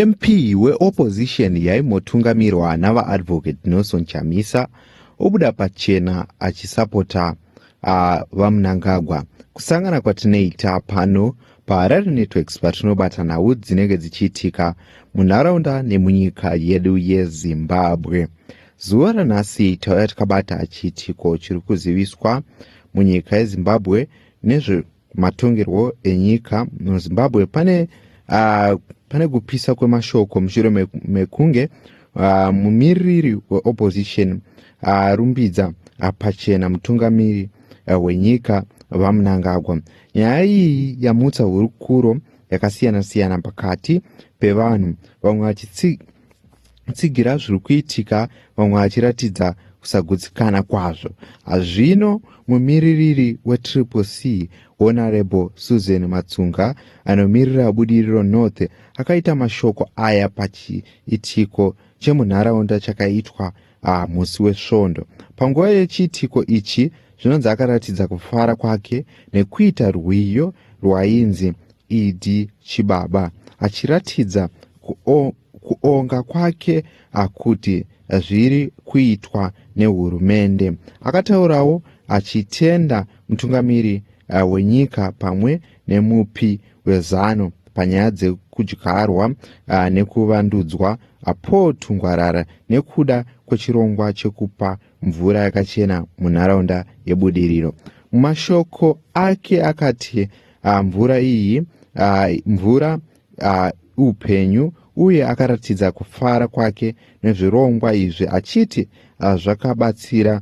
mp weopposition yaimotungamirwa navaadvocate nelson chamisa obuda pachena achisapota uh, vamunangagwa kusangana kwatinoita pano paharare networks patinobata nhau dzinenge dzichiitika munharaunda nemunyika yedu yezimbabwe zuva ranhasi tauya tikabata chiitiko chiri kuziviswa munyika yezimbabwe nezve matongerwo enyika muzimbabwe pane uh, pane kupisa kwemashoko mushure mekunge uh, mumiririri weopposition arumbidza uh, apachena mutungamiri uh, wenyika vamunangagwa nyaya iyi yamutsa hurukuro yakasiyana-siyana pakati pevanhu vamwe vachitsi tsigira zviri kuitika vamwe vachiratidza kusagutsikana kwazvo hazvino mumiririri wetriple c honorable susan matsunga anomirira budiriro north akaita mashoko aya pachiitiko chemunharaunda chakaitwa Ah, musi weSvondo, panguva yechiitiko ichi, zvinonzi akaratidza kufara kwake nekuita rwiyo rwainzi Idi Chibaba, achiratidza kuonga kwake akuti zviri kuitwa nehurumende. Akataurawo achitenda mutungamiri eh, wenyika pamwe nemupi wezano panyaya dzekudyarwa uh, nekuvandudzwa uh, paul tungwarara nekuda kwechirongwa chekupa mvura yakachena munharaunda yebudiriro mumashoko ake akati uh, mvura iyi uh, mvura uh, upenyu uye akaratidza kufara kwake nezvirongwa izvi achiti uh, zvakabatsira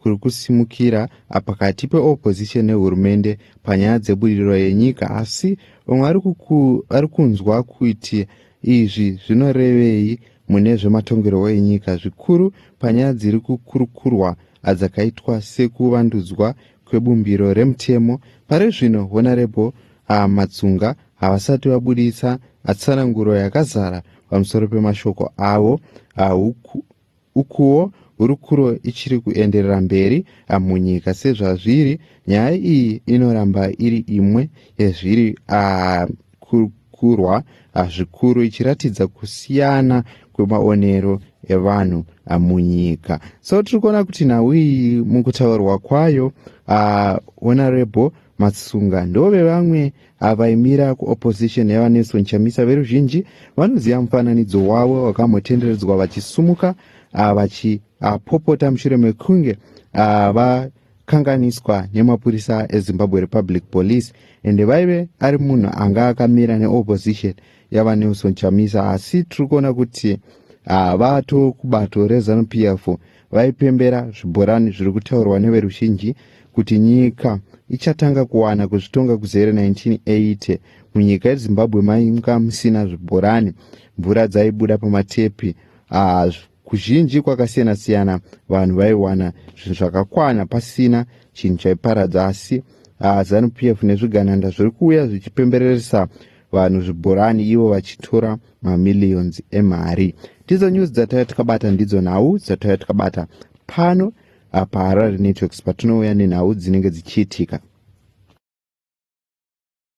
kuri kusimukira pakati peopposition nehurumende panyaya dzebudiriro yenyika asi vamwe vari kunzwa kuti izvi zvinorevei mune zvematongerwo enyika zvikuru panyaya dziri kukurukurwa adzakaitwa sekuvandudzwa kwebumbiro remutemo pari zvino honorable ah, matsunga havasati vabuditsa atsananguro yakazara pamusoro pemashoko avo ah, Ukuwo hurukuro ichiri kuenderera mberi ah, munyika sezvazviri, nyaya iyi inoramba iri imwe yezviri ah, kukurwa ah, zvikuru ichiratidza kusiyana kwemaonero evanhu ah, munyika. So tiri kuona kuti nhau iyi mukutaurwa kwayo, ah, Honorable Matsunga ndove vamwe avaimira kuopposition yavanelson chamisa veruzhinji vanoziva mufananidzo wavo wakambotenderedzwa vachisumuka ah, vachiapopota ah, mushure mekunge ah, vakanganiswa nemapurisa ezimbabwe republic police ende vaive ari munhu anga akamira neopposition yavanelson chamisa asi tiri kuona kuti vatokubato rezanup f vaipembera zvibhorani zviri kutaurwa neveruzhinji kuti nyika ichatanga kuwana kuzvitonga kuzere 1980 munyika yezimbabwe mainga musina zvibhorani mvura dzaibuda pamatepi ah, kuzhinji kwakasiyana siyana vanhu vaiwana zvinhu zvakakwana pasina chinhu chaiparadza asi ah, zanu p f nezvigananda zviri kuuya zvichipembereresa vanhu zvibhorani ivo vachitora mamillions emari ndidzo news dzatauya takabata ndidzo nhau dzatauya takabata pano apa harare networks patinouya nenhau dzinenge dzichiitika